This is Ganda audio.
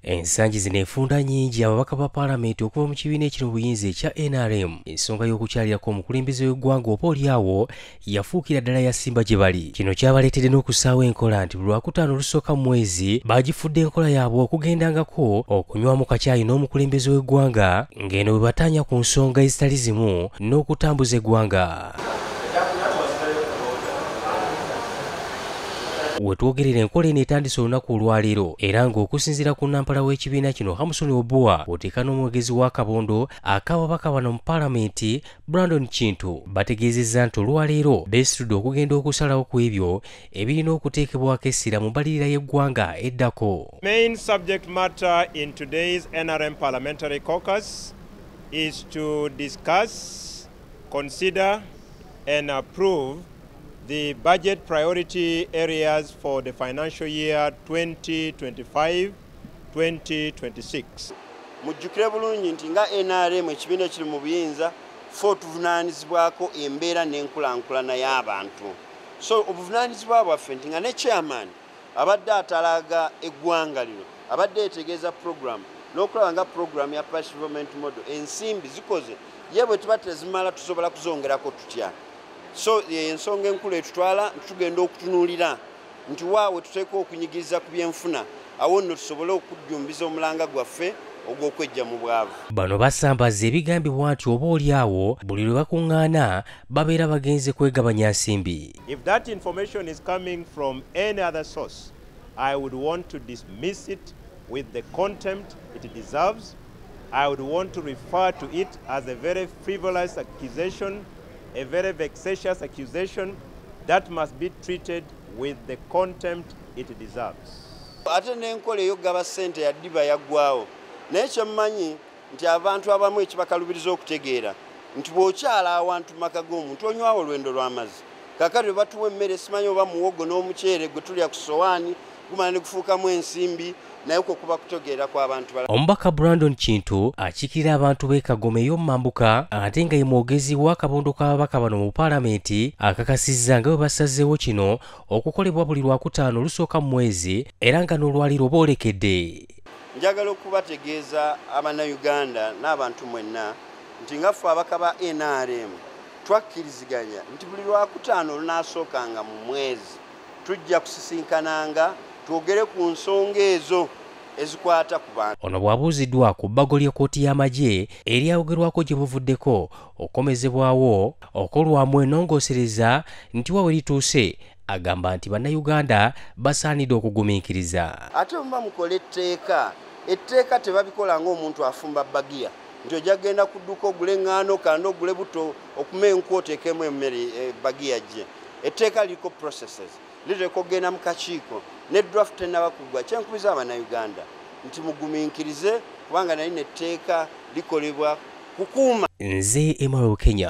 ensangi zino enfunda nyingi ababaka ba paalamenti okuva mu kibiina ekiri mu buyinza ekya nrm ensonga y'okukyalirako omukulembeze w'eggwanga oba olyawo yafuukira ddala yasimba gye bali kino kyabaleetedde n'okussaawo enkola nti buli lwakutaano olusooka mu mwezi baagifudde enkola yaabwe okugendangako okunywamu kakyayi n'omukulembeze w'eggwanga ng'eno bwe bataanya ku nsonga ezitali zimu n'okutambuza eggwanga wetwogerera enkola eno etandise olunaku olwaleero era ng'okusinziira ku nampala w'ekibiina kino hamusoni obua oteeka n'omwogezi wa kabondo akababaka bano mu palamenti brandon kintu bategeezezza nti olwaleero beesitudde okugenda okusalawo ku ebyo ebirina okuteekebwako essira mu mbalirira y'eggwanga eddako main subject matter in today's nrm parliamentary caucus is to discuss consider and approve The budget priority areas for the financial year 2025 2026. Mujjukire bulungi nti nga NRM ekibiina ekiri mu buyinza ffe otuvunaanyizibwako embeera n'enkulankulana y'abantu so obuvunaanyizibwa bwaffe nti nga ne chairman abadde atalaaga eggwanga lino abadde etegeeza program n'okulaba nga program ya pash development model ensimbi zikoze ye bwe tuba tezimala tusobola kuzongerako tutya so ensonga enkulu etutwala tugenda okutunuulira nti waawe tuteekwa okunyigiriza ku byenfuna awo nno tusobole okujjumbiza omulanga gwaffe ogw'okwejja mu bwavu bano basambaza ebigambibwa nti oba oli awo buli lwe bakuŋŋaana babeera bagenze kwegabanya nsimbi if that information is coming from any other source i would want to dismiss it with the contempt it deserves i would want to refer to it as a very frivolous accusation a very vexatious accusation that must be treated with the contempt it deserves. Ate n'enkola ey'okugaba ssente yaddiba yaggwawo naye kye mmanyi nti abantu abamu ekibakalubiriza okutegeera nti bw'okyala awantu mu maka g'omuntu onywawo olwendo lw'amazzi kakati bwe batuwa emmere simanyi oba muwogo n'omuceere gwe tulya ku sowaani kumala nekufuukamu ensimbi naye kwo kuba kutegeera kw'abantu bala omubaka brandon kintu akiikirira abantu b'e kagoma ey'omumambuka ate nga ye mwogezi w'akabondo k'ababaka bano mu paalamenti akakasizza nga bwe basazeewo kino okukolebwa buli lwakutaano olusooka mu mwezi era nga n'olwaliro boolekedde njagala okubategeeza abannayuganda n'abantu mwenna nti nga ffe abaka ba nrm twakkiriziganya nti buli lwakutaano lunaasookanga mu mwezi tujja kusisinkananga twogere ku nsonga ezo ezikwata ku bantu ono bw'abuuziddwa ku bbago ly'ekkooti y'amagye eryayogerwako gye buvuddeko okukomezebwawo okolwamu enongoosereza nti wa we lituuse agamba nti bannayuganda basaanidde okugumiikiriza ate muba mukola etteeka etteeka tebabikola ng'omuntu afumba bagiya nti ojja kugenda ku dduuka ogule eŋŋaano kanda ogule buto okuma enku oteekemu emmere eh, bagi yajje etteeka liriko processes lireka okugenda mu kakiiko ne draft tenaba kuggwa kyenkubiza abanauganda nti mugumiikirize kubanga naye netteeka likolebwa kukuuma nze emaro kenya